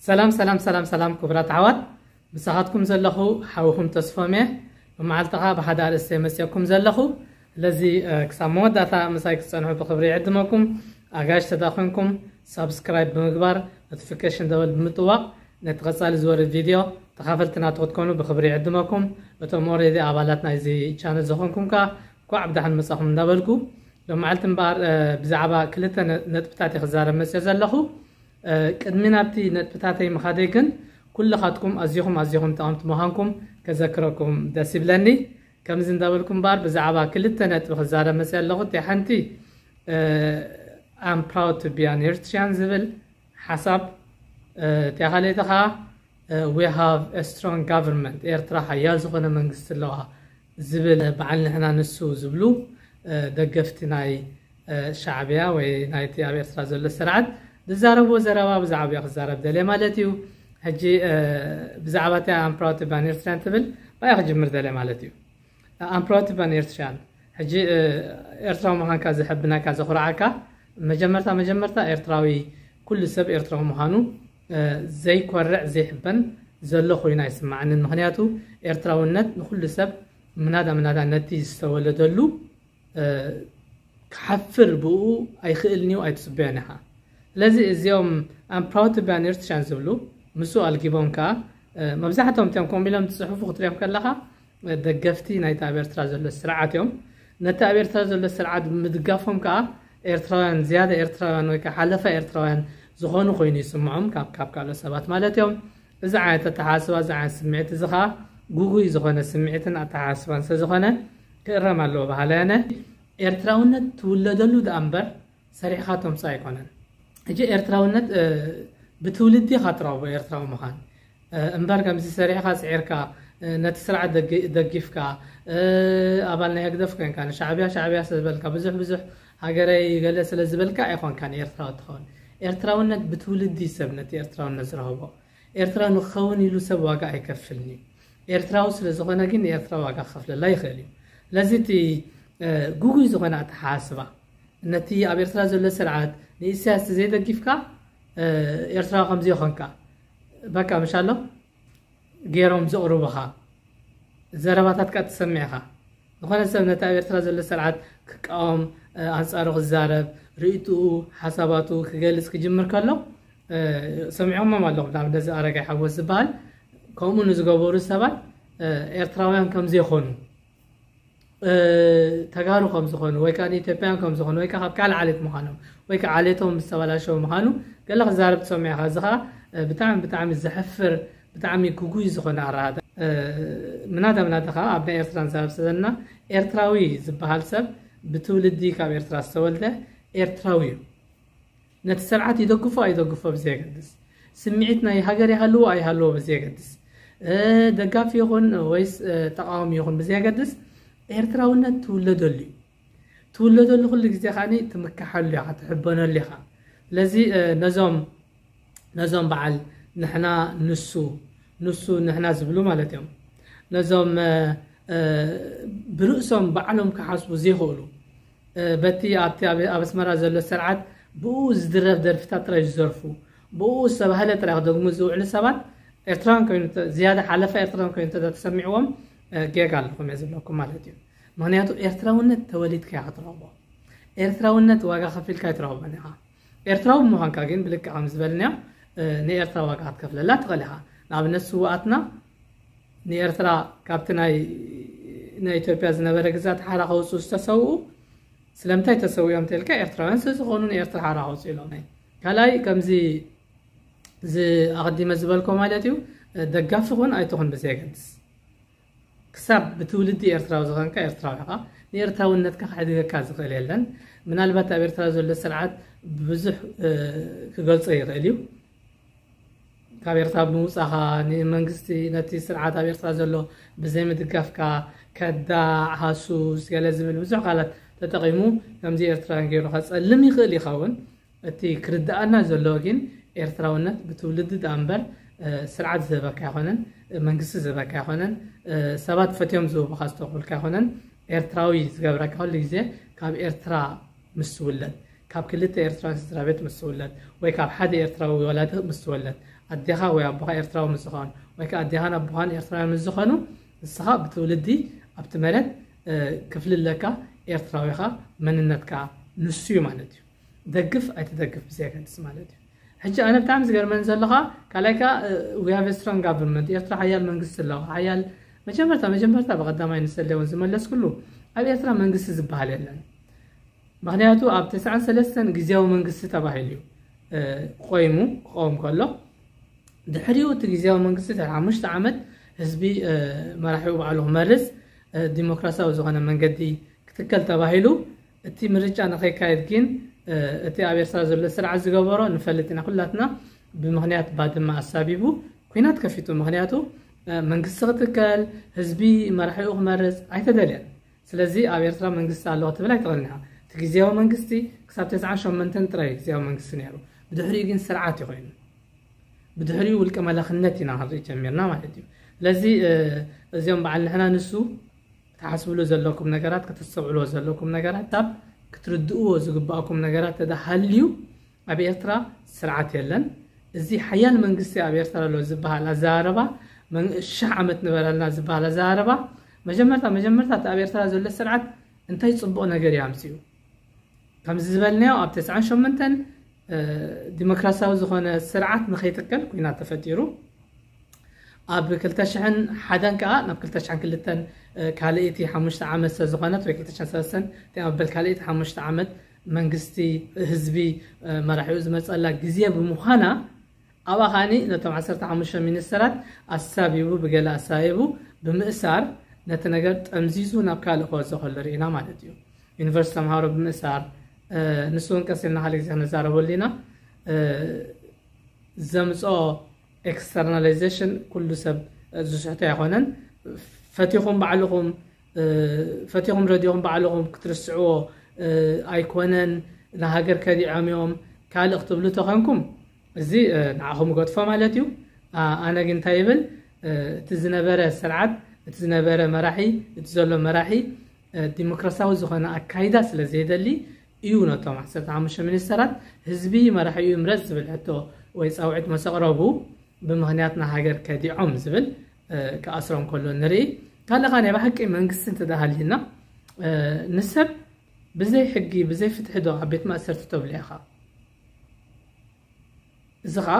ሰላም ሰላም ሰላም ሰላም ክቡራት ኣሕዋት ብሳኻትኩም ዘለኹ ሓውኹም ተስፎም እየ ብመዓልትኻ ብሓደ ኣርእስተ መፅኦኩም ዘለኹ ስለዚ ክሳብ መወዳእታ ምሳይ ክትጸንሑ ብኽብሪ ይዕድመኩም። ኣጋይሽ ተዳኮንኩም ሳብስክራይብ ብምግባር ኖቲፊኬሽን ደወል ብምጥዋቅ ነቲ ቀጻሊ ዝወርድ ቪድዮ ተኻፈልቲ ናቱ ክትኮኑ ብኽብሪ ይዕድመኩም። እቶም ኦሬዲ ኣባላት ናይዚ ቻነል ዝኾንኩም ከኣ እንኳዕ ብደሓን መጻኹም እንዳበልኩ ሎማዕልቲ እምበኣር ብዛዕባ ክልተ ነጥብታት እየ ክዛረብ መጽዮ ዘለኹ። ቅድሚ ናብቲ ነጥብታተይ ምኻደይ ግን ኩልኻትኩም ኣዚኹም ኣዚኹም ጠቐምቲ ምዃንኩም ከዘክረኩም ደስ ይብለኒ። ከምዚ እንዳበልኩ እምበኣር ብዛዕባ ክልተ ነጥቢ ክዛረብ መጺኣ ኣለኹ። እቲኣ ሓንቲ ኣም ፕራውድ ቱ ቢ ኣን ኤርትርያን ዝብል ሓሳብ፣ እቲኣ ካልኣይቲ ከኣ ዊ ሃቭ አ ስትሮንግ ጋቨርንመንት ኤርትራ ሓያል ዝኾነ መንግስቲ ኣለዋ ዝብል በዓል ንሕና ንሱ ዝብሉ ደገፍቲ ናይ ሻዕቢያ ወይ ናይቲ ኣብ ኤርትራ ዘሎ ስርዓት ዝዛረብዎ ዘረባ ብዛዕባ እዮ ክዛረብ ደልየ ማለት እዩ ሕጂ ብዛዕባ እታ ኣም ፕራውድ ቱ ቢ ኣን ኤርትርያን ትብል ባያ ክጅምር ደልየ ማለት እዩ ኣም ፕራውድ ቱ ቢ ኣን ኤርትርያን ሕጂ ኤርትራዊ ምዃንካ ዘሐብነካ ዘኹርዓካ መጀመርታ መጀመርታ ኤርትራዊ ኩሉ ሰብ ኤርትራዊ ምዃኑ ዘይኮርዕ ዘይሕበን ዘሎ ኮይኑ ኣይስማዓንን ምክንያቱ ኤርትራውነት ንኩሉ ሰብ ምናዳ ምናዳ ነቲ ዝተወለደሉ ክሓፍር ብኡ ኣይክእልንዩ ኣይትጽበዮን ኢኻ ስለዚ እዚኦም ኣም ፕራውድ ቱ ቢ ኣን ኤርትርያን ዝብሉ ምስኡ ኣልጊቦም ከኣ መብዛሕትኦም እቲኦም ከምኡ ኢሎም ዝፅሕፉ ክትሪኦም ከለኻ ደገፍቲ ናይቲ ኣብ ኤርትራ ዘሎ ስርዓት እዮም ነቲ ኣብ ኤርትራ ዘሎ ስርዓት ብምድጋፎም ከዓ ኤርትራውያን ዝያዳ ኤርትራውያን ወይ ከዓ ሓለፋ ኤርትራውያን ዝኾኑ ኮይኑ ይስምዖም ካብ ካብ ካልኦት ሰባት ማለት እዮም እዚ ዓይነት ኣተሓሳስባ እዚ ዓይነት ስምዒት እዚ ከኣ ጉጉይ ዝኾነ ስምዒትን ኣተሓሳስባን ስለዝኾነ ክእረም ኣለዎ በሃላይ ኣነ። ኤርትራውነት ትውለደሉ ደኣ እምበር ሰሪሕኻ ተምጽኦ ኣይኮነን። ሕጂ ኤርትራውነት ብትውልዲ ኢኻ ትረኽቦ ኤርትራዊ ምኻን እምበር ከምዚ ሰሪሕኻ ስዒርካ ነቲ ስርዓት ደጊፍካ ኣባል ናይ ህግደፍ ኮንካ ንሻዕብያ ሻዕብያ ስለዝበልካ ብዙሕ ብዙሕ ሃገረይ ገለ ስለ ዝበልካ ኣይኮንካን ኤርትራዊ ትኸውን። ኤርትራውነት ብትውልዲ እዩ ሰብ ነቲ ኤርትራውነት ዝረኸቦ። ኤርትራዊ ንክኸውን ኢሉ ሰብ ዋጋ ኣይከፍልን እዩ። ኤርትራዊ ስለ ዝኾነ ግን ንኤርትራ ዋጋ ክኸፍለላ ይኽእል እዩ። ስለዚ እቲ ጉጉይ ዝኾነ ኣተሓሳስባ ነቲ ኣብ ኤርትራ ዘሎ ስርዓት ንኢሳያስ ዘይደጊፍካ ኤርትራዊ ከምዚ ይኾንካ በቃ ምሻሎ ጌሮም ዘቕሩቡኻ ዘረባታት እካ ትሰምዕ ኢኻ። ዝኾነ ሰብ ነቲ ኣብ ኤርትራ ዘሎ ስርዓት ክቃወም ኣንጻሩ ክዛረብ ርእይትኡ ሓሳባቱ ክገልጽ ክጅምር ከሎ ሰሚዖሞም ኣለኹም ንኣብነት እዚ ኣረጋይ ሓጎስ ዝበሃል ከምኡ ንዝገበሩ ሰባት ኤርትራውያን ከም ዘይኮኑ ተጋሩ ከም ዝኾኑ ወይ ከዓ ኢትዮጵያን ከም ዝኾኑ ወይ ከዓ ካብ ካልእ ዓሌት ምዃኖም ወይ ከዓ ዓሌቶም ዝተበላሸው ምዃኑ ገለ ክዛረብ ትሰምዕ ኢኻ እዚ ከዓ ብጣዕሚ ብጣዕሚ ዘሕፍር ብጣዕሚ ግጉይ ዝኾነ ኣረኣእያ ምናዳ ምናዳ ከዓ ኣብ ናይ ኤርትራ ንዛረብ ዘለና ኤርትራዊ ዝበሃል ሰብ ብትውልዲ ካብ ኤርትራ ዝተወልደ ኤርትራዊ እዩ ነቲ ስርዓት ይደግፎ ኣይደግፎ ብዘየገድስ፣ ስምዒት ናይ ሃገር ይሃልዎ ኣይሃልዎ ብዘየገድስ፣ ደጋፊ ይኹን ወይስ ተቓዋሚ ይኹን ብዘየገድስ ኤርትራውነት ትውለደሉ እዩ። ትውለደሉ ኩሉ ግዜ ከዓኒ ትምከሓሉ ኢኻ፣ ትሕበነሉ ኢኻ። ስለዚ ነዞም ነዞም በዓል ንሕና ንሱ ንሱ ንሕና ዝብሉ ማለት እዮም ነዞም ብርእሶም ባዕሎም ክሓስቡ ዘይኽእሉ በቲ ኣብቲ ኣብ ኣስመራ ዘሎ ሰርዓት ብኡኡ ዝድረፍ ደርፍታት ጥራይ ዝዘርፉ ብኡኡ ዝተባህለ ጥራይ ክደግሙ ዝውዕሉ ሰባት ኤርትራውያን ኮይኑ ዝያዳ ሓለፋ ኤርትራውያን ኮይኑ እንተ ተሰሚዕዎም ጌጋ ኣለኹም እየ ዝብለኩም ማለት እዩ ምክንያቱ ኤርትራውነት ተወሊድካ ኢኻ ትረኽቦ ኤርትራውነት ዋጋ ከፊልካ ኣይትረኽቦን ኢኻ ኤርትራዊ ምዃንካ ግን ብልክዕ ከም ዝበልናዮ ንኤርትራ ዋጋ ክትከፍለላ ትኽእል ኢኻ ንኣብነት ስዋኣትና ንኤርትራ ካብቲ ናይ ናይ ኢትዮጵያ ዝነበረ ግዛት ሓራ ከውጽኡ ዝተሰውኡ ስለምንታይ ተሰዊኦም እንተልካ ኤርትራውያን ስለዝኾኑ ንኤርትራ ሓራ ከውጽኡ ኢሎም ናይ ካልኣይ ከምዚ ኣቐዲመ ዝበልኮ ማለት እዩ ደጋፊ ኹን ኣይትኹን ብዘየገድስ ክሳብ ብትውልዲ ኤርትራዊ ዝኾንካ ኤርትራዊ ኢኻ ንኤርትራውነትካ ክሕድገካ ዝኽእል የለን ምናልባት ኣብ ኤርትራ ዘሎ ስርዓት ብዙሕ ክገልጾ ይኽእል እዩ ካብ ኤርትራ ብምውጻኻ ንመንግስቲ ነቲ ስርዓት ኣብ ኤርትራ ዘሎ ብዘይ ምድጋፍካ ከዳዕ ሃሱስ ገለ ዝብል ብዙሕ ቃላት ተጠቒሙ ከምዚ ኤርትራውያን ገይሩ ከጸልም ይኽእል ይኸውን እቲ ክርድኣና ዘሎ ግን ኤርትራውነት ብትውልዲ ደኣ እምበር ስርዓት ዝህበካ ኣይኮነን መንግስቲ ዝህበካ ኣይኮነን ሰባት ፈትዮም ዝህቡኻ ዝተኽብልካ ኣይኮነን ኤርትራዊ ዝገብረካ ኩሉ ግዜ ካብ ኤርትራ ምስ ትውለድ፣ ካብ ክልተ ኤርትራውያን ስድራቤት ምስ ትውለድ፣ ወይ ካብ ሓደ ኤርትራዊ ወላዲ ምስ ትወለድ፣ ኣዴኻ ወይ ኣቦኻ ኤርትራዊ ምስ ዝኾን፣ ወይ ከኣ ኣዴኻን ኣቦኻን ኤርትራውያን ምስ ዝኾኑ፣ ንስኻ ብትውልዲ ኣብቲ መሬት ክፍሊ ኣለካ፣ ኤርትራዊ ኢኻ፣ መንነትካ ንሱ'ዩ ማለት እዩ። ደግፍ ኣይትደግፍ ብዘየገድስ ማለት እዩ። ሕጂ ኣነ ብጣዕሚ ዝገርመኒ ዘሎ ከኣ ካልኣይ ከኣ we have a strong government ኤርትራ ሓያል መንግስቲ ኣለዋ ሓያል መጀመርታ መጀመርታ ብቐዳማይ ንሰሌ እውን ዝመለስኩሉ ኣብ ኤርትራ መንግስቲ ዝበሃል የለን ምክንያቱ ኣብ ተስዓን ሰለስተን ግዜያዊ መንግስቲ ተባሂሉ እዩ ቆይሙ ክኸውን ከሎ ድሕሪኡ እቲ ግዜያዊ መንግስቲ ድሕሪ ሓሙሽተ ዓመት ህዝቢ መራሒኡ ባዕሉ ክመርፅ ዲሞክራሲያዊ ዝኾነ መንገዲ ክትከል ተባሂሉ እቲ ምርጫ ንኸይካየድ ግን እቲ ኣብ ኤርትራ ዘሎ ስርዓት ዝገበሮ ንፈልጥ ኢና ኩላትና ብምክንያት ባድማ ኣሳቢቡ ኩናት ከፊቱ ምክንያቱ መንግስቲ ክትከል ህዝቢ መራሒኡ ክመርፅ ኣይተደልየን ስለዚ ኣብ ኤርትራ መንግስቲ ኣሎ ክትብል ኣይትኽእልን ኢኻ። እቲ ግዝያዊ መንግስቲ ክሳብ ተስዓን ሸሞንተን ጥራይ እዩ ግዝያዊ መንግስቲ ነይሩ። ብድሕሪኡ ግን ስርዓት እዩ ኮይኑ። ብድሕሪኡ ውልቀ መላኽነት ኢና ክንርኢ ጀሚርና ማለት እዩ። ስለዚ እዚኦም በዓል ንሕና ንሱ ትሓስብሉ ዘለኩም ነገራት ከተስተውዕልዎ ዘለኩም ነገራት ካብ ክትርድእዎ ዝግባእኩም ነገራት ተዳሃልዩ ኣብ ኤርትራ ስርዓት የለን እዚ ሓያል መንግስቲ ኣብ ኤርትራ ኣሎ ዝበሃል ኣዘራርባ ሽሕ ዓመት ንበረልና ዝበሃል ኣዘራርባ መጀመርታ መጀመርታ እቲ ኣብ ኤርትራ ዘሎ ስርዓት እንታይ ጽቡቕ ነገር እዩ ኣምጺኡ ከምዚ ዝበልናዮ ኣብ ተስዓን ሸምንተን ዲሞክራሲያዊ ዝኾነ ስርዓት ንኸይትከል ኩናት ተፈጢሩ ኣብ 200 ሓደን ከዓ ናብ 202 ካልእቲ ሓሙሽተ ዓመት ስለዝኾነት ወይ 203 ተመበል ካልእቲ ሓሙሽተ ዓመት መንግስቲ ህዝቢ መራሒኡ ዝመጸላ ግዜ ብምዃና ኣብኣ ከኣ ነቶም ዓሰርተ ሓሙሽተ ሚኒስተራት ኣሳቢቡ ብገለ ኣሳይቡ ብምእሳር ነቲ ነገር ጠምዚዙ ናብ ካልእ ክወስዶ ከሎ ርኢና ማለት እዩ ዩኒቨርስቲ ተምሃሮ ብምእሳር ንሱ እውን ቀስ ኢልና ሓደ ግዜ ክንዛረበሉ ኢና ዘምፅኦ ኤክስተርናላይዜሽን ኩሉ ሰብ ዝስሕቶ ኣይኮነን ፈቲኹም ባዕልኹም ፈቲኹም ረዲኹም ባዕልኹም ክትርስዕዎ ኣይኮነን ንሃገር ከዲዖም እዮም ካልእ ክትብሉ ተኾንኩም እዚ ንዓኹም እገድፎ ማለት እዩ ኣነ ግን እንታይ ይብል እቲ ዝነበረ ስርዓት እቲ ዝነበረ መራሒ እቲ ዘሎ መራሒ ዲሞክራሲያዊ ዝኾነ ኣካይዳ ስለ ዘይደሊ እዩ ነቶም 15 ሚኒስተራት ህዝቢ መራሒኡ ይምረፅ ዝብል ሕቶ ወይ ፃውዒት መሰቕረቡ ብምክንያት ንሃገር ከዲዖም ዝብል ክኣስሮም ከሎ ንርኢ ካልእ ኸ ናይ ብሓቂ መንግስቲ እንተ ሃልዩና ንሰብ ብዘይ ሕጊ ብዘይ ፍትሒ ዶ ኣብ ቤት ማእሰርቲ ተብሎ ኢኻ እዚ ከዓ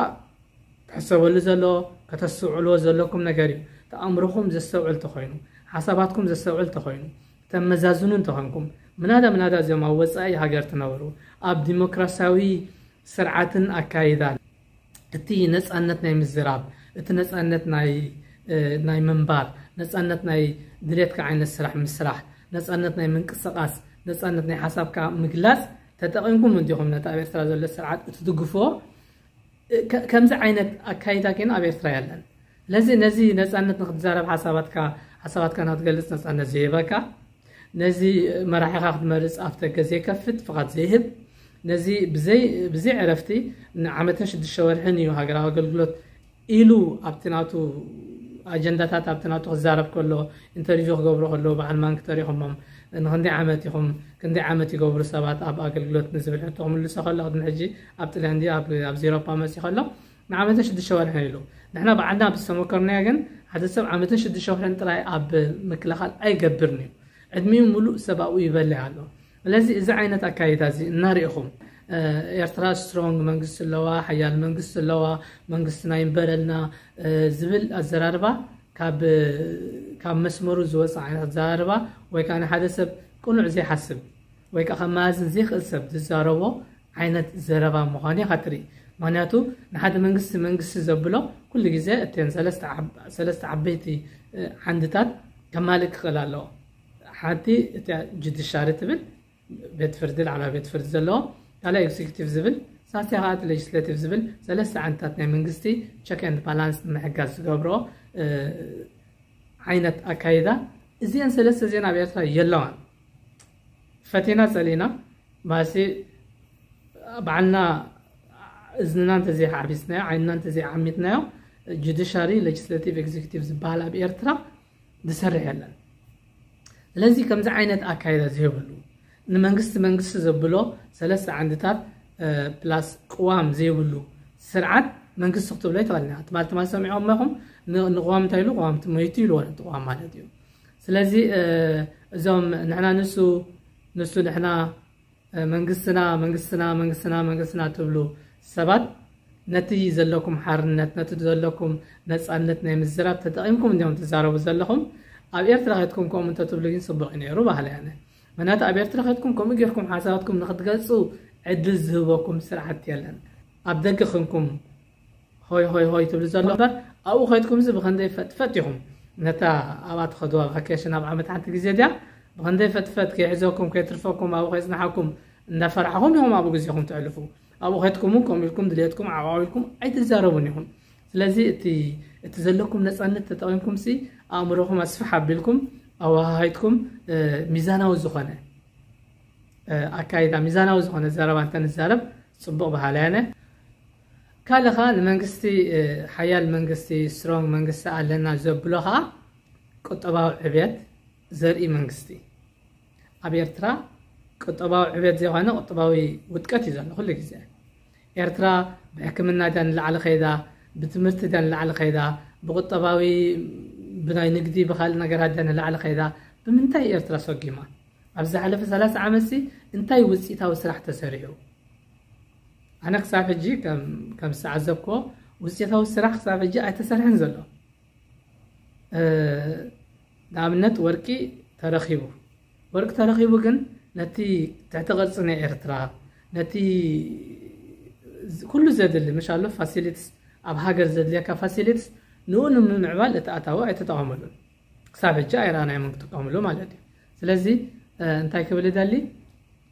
ትሕሰበሉ ዘሎ ከተስተውዕልዎ ዘለኩም ነገር እዩ ተኣምርኹም ዘስተውዕል ተኾይኑ ሓሳባትኩም ዘስተውዕል ተኾይኑ ተመዛዝኑ እንተኾንኩም ምናዳ ምናዳ እዚኦም ኣብ ወፃኢ ሃገር ትነብሩ ኣብ ዲሞክራሲያዊ ስርዓትን ኣካይዳን እቲ ነፃነት ናይ ምዝራብ፣ እቲ ነፃነት ናይ ምንባር፣ ነፃነት ናይ ድሌትካ ዓይነት ስራሕ ምስራሕ፣ ነፃነት ናይ ምንቅስቓስ፣ ነፃነት ናይ ሓሳብካ ምግላፅ ተጠቒምኩም እንዲኹም ነቲ ኣብ ኤርትራ ዘሎ ስርዓት እትድግፍዎ? ከምዚ ዓይነት ኣካይዳ ግን ኣብ ኤርትራ የለን። ስለዚ ነዚ ነጻነት ንክትዛረብ ሓሳባትካ ሓሳባትካ ንክትገልጽ ነጻነት ዘይህበካ ነዚ መራሒኻ ክትመርጽ ኣፍ ደገ ዘይከፍት ፍቓድ ዘይህብ ነዚ ብዘይ ዕረፍቲ ንዓመትን ሽዱሽተ ወርሕን እዩ ሃገራዊ ኣገልግሎት ኢሉ ኣብቲ ናቱ ኣጀንዳታት ኣብቲ ናቱ ክዛረብ ከሎ ኢንተርቪው ክገብሩ ከለዉ በዓል ማንኪ ተሪኹሞም ንክንደይ ዓመት ኢኹም ክንደይ ዓመት ይገብሩ ሰባት ኣብ ኣገልግሎት ንዝብል ሕቶ ክምልሶ ከሎ ቅድሚ ሕጂ ኣብ ጥልያን ኣብዚ ኤሮፓ መፅኡ ከሎ ንዓመትን ሽዱሽተ ወርሕን ኢሉ። ንሕና ባዕልና ኣብ ዝተመከርናዮ ግን ሓደ ሰብ ዓመትን ሽዱሽተ ወርሕን ጥራይ ኣብ ምክልኻል ኣይገብርን'ዩ። ዕድሚኡ ምሉእ ሰብ ኣብኡ ይበልዕ ኣሎ። ስለዚ እዚ ዓይነት ኣካይዳ'ዚ እናርኤኹም ኤርትራ ስትሮንግ መንግስቲ ኣለዋ፣ ሓያል መንግስቲ ኣለዋ፣ መንግስትና ይንበረልና ዝብል ኣዘራርባ ካብ ካብ መስመሩ ዝወጽእ ዓይነት ኣዘራርባ ወይ ከኣ ንሓደ ሰብ ቅኑዕ ዘይሓስብ ወይ ከኣ ከመያዝን ዘይክእል ሰብ ዝዛረቦ ዓይነት ዘረባ ምዃኑ ኢኻ ትርኢ። ምኽንያቱ ንሓደ መንግስቲ መንግስቲ ዘብሎ ኩሉ ግዜ እተን ሰለስተ ዓበይቲ ዓንድታት ከማልእ ክኽእል ኣለዎ። ሓንቲ እቲኣ ጁዲሻሪ ትብል ቤት ፍርዲ ላዕለዋይ ቤት ፍርዲ ዘለዎ፣ ካልኣይ ኤግዚኪቲቭ ዝብል ሳልሳይ ከዓ እቲ ሌጅስሌቲቭ ዝብል ሰለስተ ዓንድታት ናይ መንግስቲ ቸክ ኤንድ ባላንስ ንምሕጋዝ ዝገብሮ ዓይነት ኣካይዳ እዚአን ሰለስተ ዜና ኣብ ኤርትራ የለዋን። ፈቲና ጸሊእና ባእሲ ባዕልና እዝንና እንተዘይዓቢስናዮ ዓይንና እንተዘይዓሚትናዮ ጁዲሻሪ ሌጅስሌቲቭ ኤግዚኪቲቭ ዝበሃል ኣብ ኤርትራ ዝሰርሕ የለን ስለዚ ከምዚ ዓይነት ኣካይዳ ዘይብሉ ንመንግስቲ መንግስቲ ዘብሎ ሰለስተ ዓንድታት ፕላስ ቅዋም ዘይብሉ ስርዓት መንግስቲ ክትብሎ ኣይትኽእልን ኢኻ ትማል ትማል ሰሚዖም ኢኹም ንቅዋም እንታይ ኢሉ ቅዋም ትመይቱ ኢልዎ ነቲ ቅዋም ማለት እዩ ስለዚ እዞም ንሕና ንሱ ንሱ ንሕና መንግስትና መንግስትና መንግስትና መንግስትና ትብሉ ሰባት ነቲ ዘለኩም ሓርነት ነቲ ዘለኩም ነፃነት ናይ ምዝራብ ተጠቒምኩም እንዲም ትዛረቡ ዘለኹም ኣብ ኤርትራ ከትኩም ከምኡ እንተትብሉ ግን ፅቡቅ እዩ ነይሩ ባህለ ያነ ምክንያቱ ኣብ ኤርትራ ከትኩም ከምኡ ጌርኩም ሓሳባትኩም ንክትገልፁ ዕድል ዝህበኩም ስርዓት የለን ኣብ ደገ ክንኩም ሆይ ሆይ ሆይ ትብሉ ዘሎ እምበር ኣብኡ ከድኩምዚ ብኸንደይ ፈጥፈጥ ኢኹም ነታ ኣብኣ ትኸድዋ ቫኬሽን ኣብ ዓመት ሓንቲ ግዜ ድያ ብኸንደይ ፈጥፈጥ ከይሕዘኩም ከይትርፈኩም ኣብኡ ከይጽናሓኩም እንዳፈራሕኹም ኢኹም ኣብኡ ግዜኹም ተዕልፉ ኣብኡ ከድኩም እውን ከምኡ ኢልኩም ድልየትኩም ዓቋዊልኩም ኣይትዛረቡን ኢኹም ስለዚ እቲ እቲ ዘለኩም ነፃነት ተጠቒምኩም ሲ ኣእምሮኹም ኣስፋሕ ኣቢልኩም ኣወሃሃይትኩም ሚዛናዊ ዝኾነ ኣካይዳ ሚዛናዊ ዝኾነ ዘረባ እንተንዛረብ ፅቡቕ በሃላይ ኣነ ካልእ ከኣ ንመንግስቲ ሓያል መንግስቲ ስትሮንግ መንግስቲ ኣለና ዘብሎ ከኣ ቁጠባዊ ዕብየት ዘርኢ መንግስቲ ኣብ ኤርትራ ቁጠባዊ ዕብየት ዘይኮነ ቁጠባዊ ውድቀት እዩ ዘሎ ኩሉ ግዜ ኤርትራ ብሕክምና ድያ ንላዕሊ ከይዳ ብትምህርቲ ድያ ንላዕሊ ከይዳ ብቁጠባዊ ብናይ ንግዲ ብካልእ ነገራት ድያ ንላዕሊ ከይዳ ብምንታይ ኤርትራ ሰጊማ ኣብ ዝሓለፈ ሰላሳ ዓመትሲ እንታይ ውፅኢታዊ ስራሕ ተሰሪሑ ኣነ ክሳብ ሕጂ ከም ዝተዓዘብክዎ ውፅኢታዊ ስራሕ ክሳብ ሕጂ ኣይተሰርሐን ዘሎ ንኣብነት ወርቂ ተረኺቡ ወርቂ ተረኺቡ ግን ነቲ ትሕቲ ቅርፂ ናይ ኤርትራ ነቲ ኩሉ ዘድሊ መሻሎ ፋሲሊትስ ኣብ ሃገር ዘድልየካ ፋሲሊትስ ንኡ ንምምዕባል እቲ ኣታዊ ኣይተጠቐመሉን ክሳብ ሕጂ ኣይረኣናዮም እዮም ክጥቀምሉ ማለት እዩ ስለዚ እንታይ ክብል ይደሊ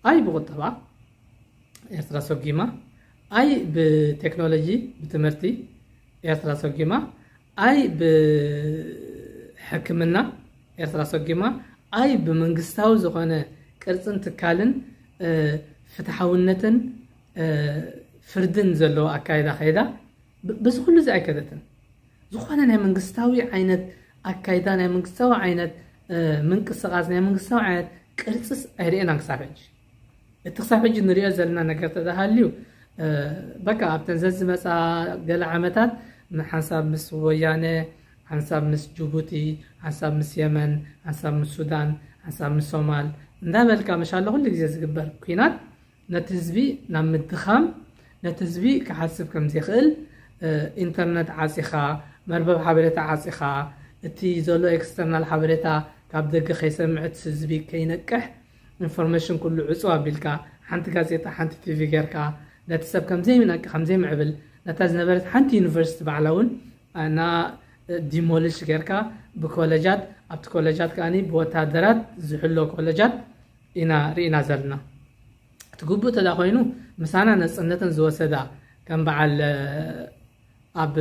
ኣይ ብቁጠባ ኤርትራ ሰጒማ ኣይ ብቴክኖሎጂ ብትምህርቲ ኤርትራ ሰጒማ ኣይ ብሕክምና ኤርትራ ሰጒማ ኣይ ብመንግስታዊ ዝኾነ ቅርፅን ትካልን ፍትሓውነትን ፍርድን ዘለዎ ኣካይዳ ከይዳ በዚ ኩሉ እዚ ኣይከደትን ዝኾነ ናይ መንግስታዊ ዓይነት ኣካይዳ፣ ናይ መንግስታዊ ዓይነት ምንቅስቓስ፣ ናይ መንግስታዊ ዓይነት ቅርጽስ ኣይርኤናን ክሳብ ሕጂ። እቲ ክሳብ ሕጂ ንሪኦ ዘለና ነገር ተተሃልዩ በቃ ኣብተን ዘዝመፃ ገለ ዓመታት ሓንሳብ ምስ ወያነ ሓንሳብ ምስ ጅቡቲ ሓንሳብ ምስ የመን ሓንሳብ ምስ ሱዳን ሓንሳብ ምስ ሶማል እንዳበልካ መሻለ ኩሉ ግዜ ዝግበር ኩናት ነቲ ህዝቢ ናብ ምድኻም፣ ነቲ ህዝቢ ክሓስብ ከም ዘይክእል፣ ኢንተርነት ዓጺኻ፣ መርበብ ሓበሬታ ዓጺኻ፣ እቲ ዘሎ ኤክስተርናል ሓበሬታ ካብ ደገ ከይሰምዕ፣ እቲ ህዝቢ ከይነቅሕ፣ ኢንፎርሜሽን ኩሉ ዕጽው ኣቢልካ፣ ሓንቲ ጋዜጣ፣ ሓንቲ ቲቪ ጌርካ፣ ነቲ ሰብ ከም ዘይነቅሕ፣ ከም ዘይምዕብል፣ ነታ ዝነበረት ሓንቲ ዩኒቨርሲቲ ባዕላ እውን ን ዲሞሊሽ ጌርካ ብኮለጃት፣ ኣብቲ ኮለጃት ከኣ ብወተሃደራት ዝሕሎ ኮለጃት፣ ኢና ሪኢና ዘለና እቲ ግቡእ ተድኣ ኮይኑ ምሳና ነጽነተን ዝወሰዳ ከም በዓል ኣብ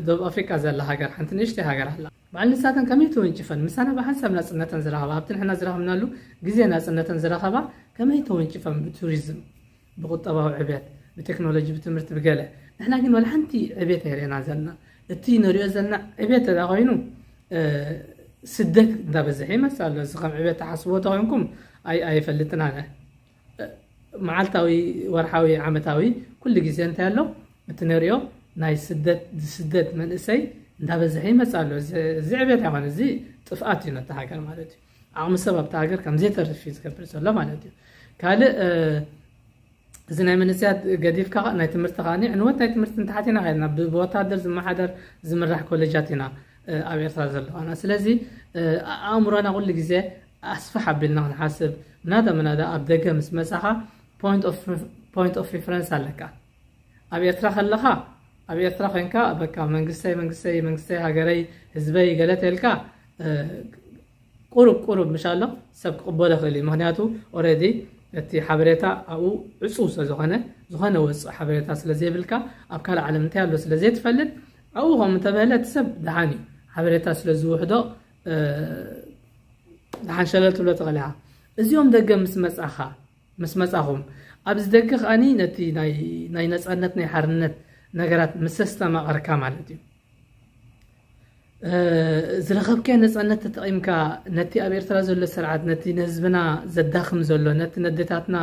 ደቡብ ኣፍሪቃ ዘላ ሃገር ሓንቲ ንእሽተይ ሃገር ኣላ በዓል ንሳተን ከመይ ተወንጭፈን ምሳና ብሓንሳብ ናጽነተን ዝረኸባ ኣብቲ ንሕና ዝረኸብናሉ ግዜ ናጽነተን ዝረኸባ ከመይ ተወንጭፈን ብቱሪዝም ብቁጠባዊ ዕብየት ብቴክኖሎጂ ብትምህርቲ ብገለ ንሕና ግን ዋላ ሓንቲ ዕብየት ኣይርኤና ዘለና እቲ ንሪኦ ዘለና ዕብየት ተዳ ኮይኑ ስደት እንዳበዝሐ ይመስል ኣሎ እዚ ከም ዕብየት ተሓስቦ ተኮይንኩም ኣይፈልጥን ኣነ መዓልታዊ ወርሓዊ ዓመታዊ ኩሉ ግዜ እንታይ ኣሎ እቲ ንሪኦ ናይ ስደት ዝስደት መንእሰይ እንዳበዝሐ ይመፅእ ኣሎ እዚ ዕብየት ኣይኮነ እዚ ጥፍኣት እዩ ነቲ ሃገር ማለት እዩ ዓቕሚ ሰብ ኣብቲ ሃገር ከም ዘይተርፍ እዩ ዝገብር ዘሎ ማለት እዩ ካልእ እዚ ናይ መንእሰያት ገዲፍካ ናይ ትምህርቲ ከዓ ዕንወት ናይ ትምህርቲ ንታሓት ኢና ከድና ብወታደር ዝመሓደር ዝምራሕ ኮሌጃት ኢና ኣብ ኤርትራ ዘለዋና ስለዚ ኣእምሮና ኩሉ ግዜ ኣስፋሕ ኣቢልና ክንሓስብ ምናዳ ምናዳ ኣብ ደገ ምስ መፃኻ ፖይንት ኦፍ ሪፈረንስ ኣለካ ኣብ ኤርትራ ከለኻ ኣብ ኤርትራ ኮንካ በቃ መንግስተይ መንግስተይ መንግስተይ ሃገረይ ህዝበይ ገለ ተልካ ቁሩብ ቁሩብ ምሻሎ ሰብ ክቕበሎ ይኽእል እዩ ምክንያቱ ኦረዲ እቲ ሓበሬታ ኣብኡ ዕፁው ስለ ዝኾነ ዝኾነ ወፅእ ሓበሬታ ስለ ዘይብልካ ኣብ ካልእ ዓለም እንታይ ኣሎ ስለ ዘይትፈልጥ ኣብኡ ከምኡ እንተበለ እቲ ሰብ ደሓን እዩ ሓበሬታ ስለ ዝውሕዶ ደሓን ሸለል ትብሎ ትኽእል ኢኻ እዚኦም ደገ ምስ መፃኻ ምስ መጻኹም ኣብዚ ደገ ከኣኒ ነቲ ናይ ነጻነት ናይ ሓርነት ነገራት ምስ ኣስተማቐርካ ማለት እዩ ዝረኸብካዮ ነፃነት ተጠቒምካ ነቲ ኣብ ኤርትራ ዘሎ ስርዓት ነቲ ንህዝብና ዘዳኽም ዘሎ ነቲ ነዴታትና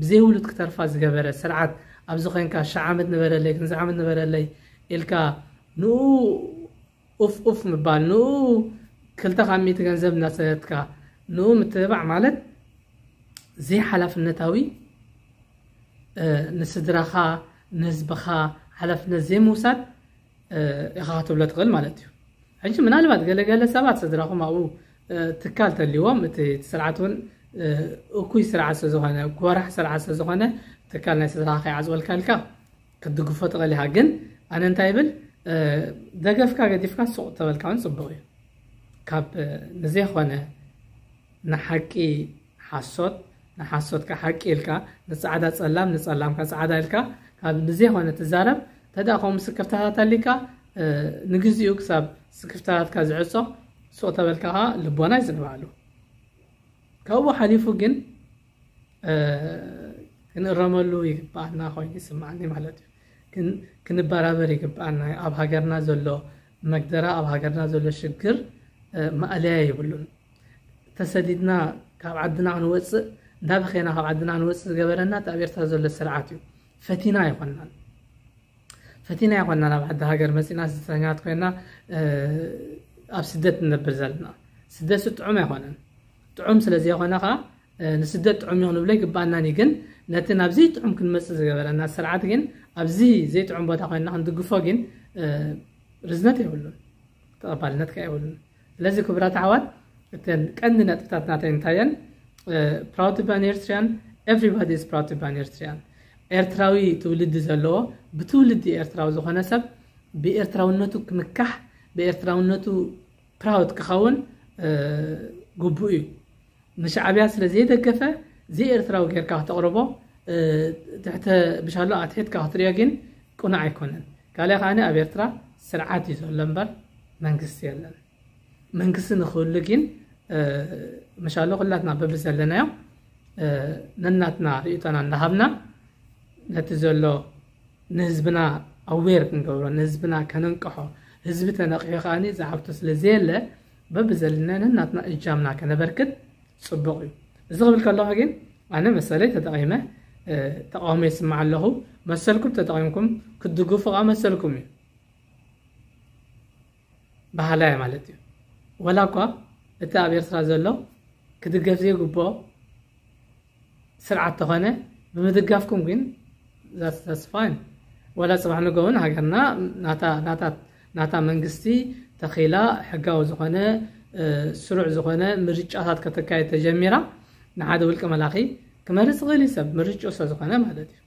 ብዘይውሉድ ክተርፋ ዝገበረ ስርዓት ኣብዚ ኮንካ ሻዕ ዓመት ንበረለይ ክንዚ ዓመት ንበረለይ ኢልካ ንኡ ኡፍ ኡፍ ምባል ንኡ ክልተ ካብ ሚእቲ ገንዘብ እናሰደድካ ንኡ ምትብባዕ ማለት ዘይሓላፍነታዊ ንስድራኻ ንህዝብኻ ሓላፍነት ዘይምውሳድ ኢኻ ክትብሎ ትኽእል ማለት እዩ ሕጂ ምናልባት ገለገለ ሰባት ስድራኹም ኣብኡ ትካል ተልዎም እቲ ስርዓት እውን እኩይ ስርዓት ስለዝኾነ ጎራሕ ስርዓት ስለዝኾነ ትካል ናይ ስድራኻ ከይዓፅወልካ ኢልካ ክትድግፎ ትኽእል ኢኻ ግን ኣነ እንታይ ይብል ደገፍካ ገዲፍካ ሱቕ ተበልካ እውን ፅቡቕ እዩ ካብ ንዘይኾነ ንሓቂ ሓሶት ንሓሶትካ ሓቂ ኢልካ ንፃዕዳ ፀላም ንፀላምካ ፃዕዳ ኢልካ ካብ ንዘይኾነ ትዛረብ ተዳ ከምኡ ምስክርታታት ኣሊካ ንግዚኡ ክሳብ ስክፍታታትካ ዝዕፆ ሱቕ ተበልካ ከዓ ልቦና ይዝንባሉ ካብኡ ሓሊፉ ግን ክንእረመሉ ይግብኣና ኮይኑ ይስምዓኒ ማለት እዩ ግን ክንበራበር ይግብኣና እዩ ኣብ ሃገርና ዘሎ መግደራ ኣብ ሃገርና ዘሎ ሽግር ማእለያ የብሉን ተሰዲድና ካብ ዓድና ክንወፅእ እንዳበኸና ካብ ዓድና ክንወፅእ ዝገበረና እቲ ኣብ ኤርትራ ዘሎ ስርዓት እዩ ፈቲና ኣይኮናን ፈቲና ኣይኮና ናብ ዓዲ ሃገር መፂና ስደተኛት ኮይና ኣብ ስደት ንነብር ዘለና ስደት ስጥዑም ኣይኮነን ጥዑም ስለ ዘይኮነ ከኣ ንስደት ጥዑም እዩ ክንብሎ ኣይግብኣናን እዩ። ግን ነቲ ናብ ዘይጥዑም ክንመጽእ ዝገበረና ስርዓት ግን ኣብዚ ዘይጥዑም ቦታ ኮይንና ክንድግፎ ግን ርዝነት የብሉን፣ ተቐባልነት ከኣ የብሉን። ስለዚ ክቡራት ኣሕዋት እተን ቀንዲ ነጥብታት ናተይ እንታይ እየን? ፕራውድ ቱ ቢ ኣን ኤርትሪያን ኤቭሪባዲ ኢዝ ፕራውድ ቱ ቢ ኣን ኤርትሪያን ኤርትራዊ ትውልዲ ዘለዎ ብትውልዲ ኤርትራዊ ዝኾነ ሰብ ብኤርትራውነቱ ክምካሕ ብኤርትራውነቱ ፕራውድ ክኸውን ግቡእ እዩ። ንሻዕብያ ስለ ዘይደገፈ ዘይኤርትራዊ ጌርካ ክተቕርቦ ትሕተ ብሻሎ ኣትሒትካ ክትሪኦ ግን ቅኑዕ ኣይኮነን። ካልእ ከዓኒ ኣብ ኤርትራ ስርዓት እዩ ዘሎ እምበር መንግስቲ የለን። መንግስቲ ንክህሉ ግን መሻሎ ኩላትና በብዘለናዮ ነናትና ርእይቶና እንዳሃብና ነቲ ዘሎ ንህዝብና ኣዌር ክንገብሮ ንህዝብና ከነንቅሖ ህዝቢ ተነቂሑ ከኣ ዝሓብቶ ስለ ዘየለ በብዘለና ነናትና እጃምና ከነበርክት ጽቡቕ እዩ እዚ ክብል ከለኹ ግን ኣነ መሰለይ ተጠቒመ ተቃውሞ ይስማዕ ኣለኹ መሰልኩም ተጠቒምኩም ክትድግፉ ከኣ መሰልኩም እዩ በሃላይ እየ ማለት እዩ። ወላ እኳ እቲ ኣብ ኤርትራ ዘሎ ክድገፍ ዘይግብኦ ስርዓት ተኾነ ብምድጋፍኩም ግን ዛስ ፋይን ወላ ፅባሕ ንጎ እውን ሃገርና ናታ መንግስቲ ተኺላ ሕጋዊ ዝኾነ ስሩዕ ዝኾነ ምርጫታት ከተካየድ ተጀሚራ ንሓደ ውልቀ መላኺ ክመርፅ ይኽእል እዩ ሰብ ምርጭኡ ስለዝኾነ ማለት እዩ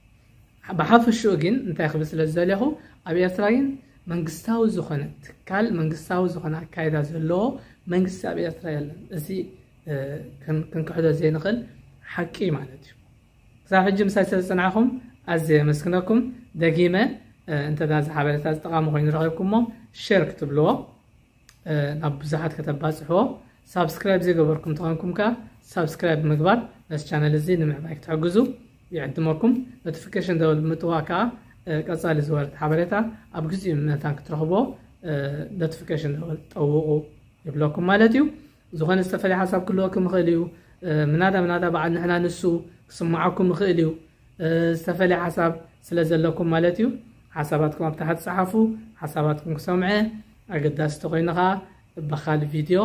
ብሓፈሽኡ ግን እንታይ ክብል ስለ ዝደለኹ ኣብ ኤርትራ ግን መንግስታዊ ዝኾነ ትካል መንግስታዊ ዝኾነ ኣካይዳ ዘለዎ መንግስቲ ኣብ ኤርትራ የለን እዚ ክንክሕዶ ዘይንኽእል ሓቂ ማለት እዩ ክሳብ ሕጂ ምሳይ ስለ ዝፅናዕኹም ኣዝየ የመስግነኩም ደጊመ እንተ ዝሓበሬታ ዝጠቓሚ ኮይኑ ረኺብኩሞ ሸር ክትብልዎ ናብ ብዙሓት ከተባፅሕዎ ሳብስክራይብ ዘይገበርኩም ተኾንኩም ከዓ ሳብስክራይብ ምግባር ነዚ ቻነል እዚ ንምዕባይ ክትሕግዙ ይዕድመኩም ኖቲፊኬሽን ደወል ብምጥዋቅ ከዓ ቀፃሊ ዝወርድ ሓበሬታ ኣብ ግዚኡ መታን ክትረኽቦ ኖቲፊኬሽን ደወል ጠውቑ ይብለኩም ማለት እዩ ዝኾነ ዝተፈለየ ሓሳብ ክህልወኩም ይኽእል እዩ ምናዳ ምናዳ በዓል ንሕና ንሱ ክስምዓኩም ይኽእል እዩ ዝተፈለየ ሓሳብ ስለ ዘለኩም ማለት እዩ ሓሳባትኩም ኣብ ታሕቲ ጸሓፉ ሓሳባትኩም ክሰምዐ ኣገዳሲ ተኮይኑ ከዓ በካል ቪድዮ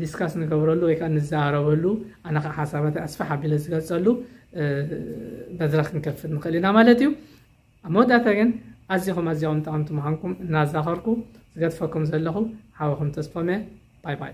ዲስካስ ንገብረሉ ወይ ከዓ ንዘራረበሉ ኣነ ከዓ ሓሳባት ኣስፋሕ ኣቢለ ዝገልፀሉ መድረክ ክንከፍት ንኽእል ኢና ማለት እዩ ኣብ መወዳእታ ግን ኣዚኹም ኣዚኹም ጠቐምቲ ምዃንኩም እናዛኸርኩ ዝገድፈኩም ዘለኹ ሓወኹም ተስፎመ ባይ ባይ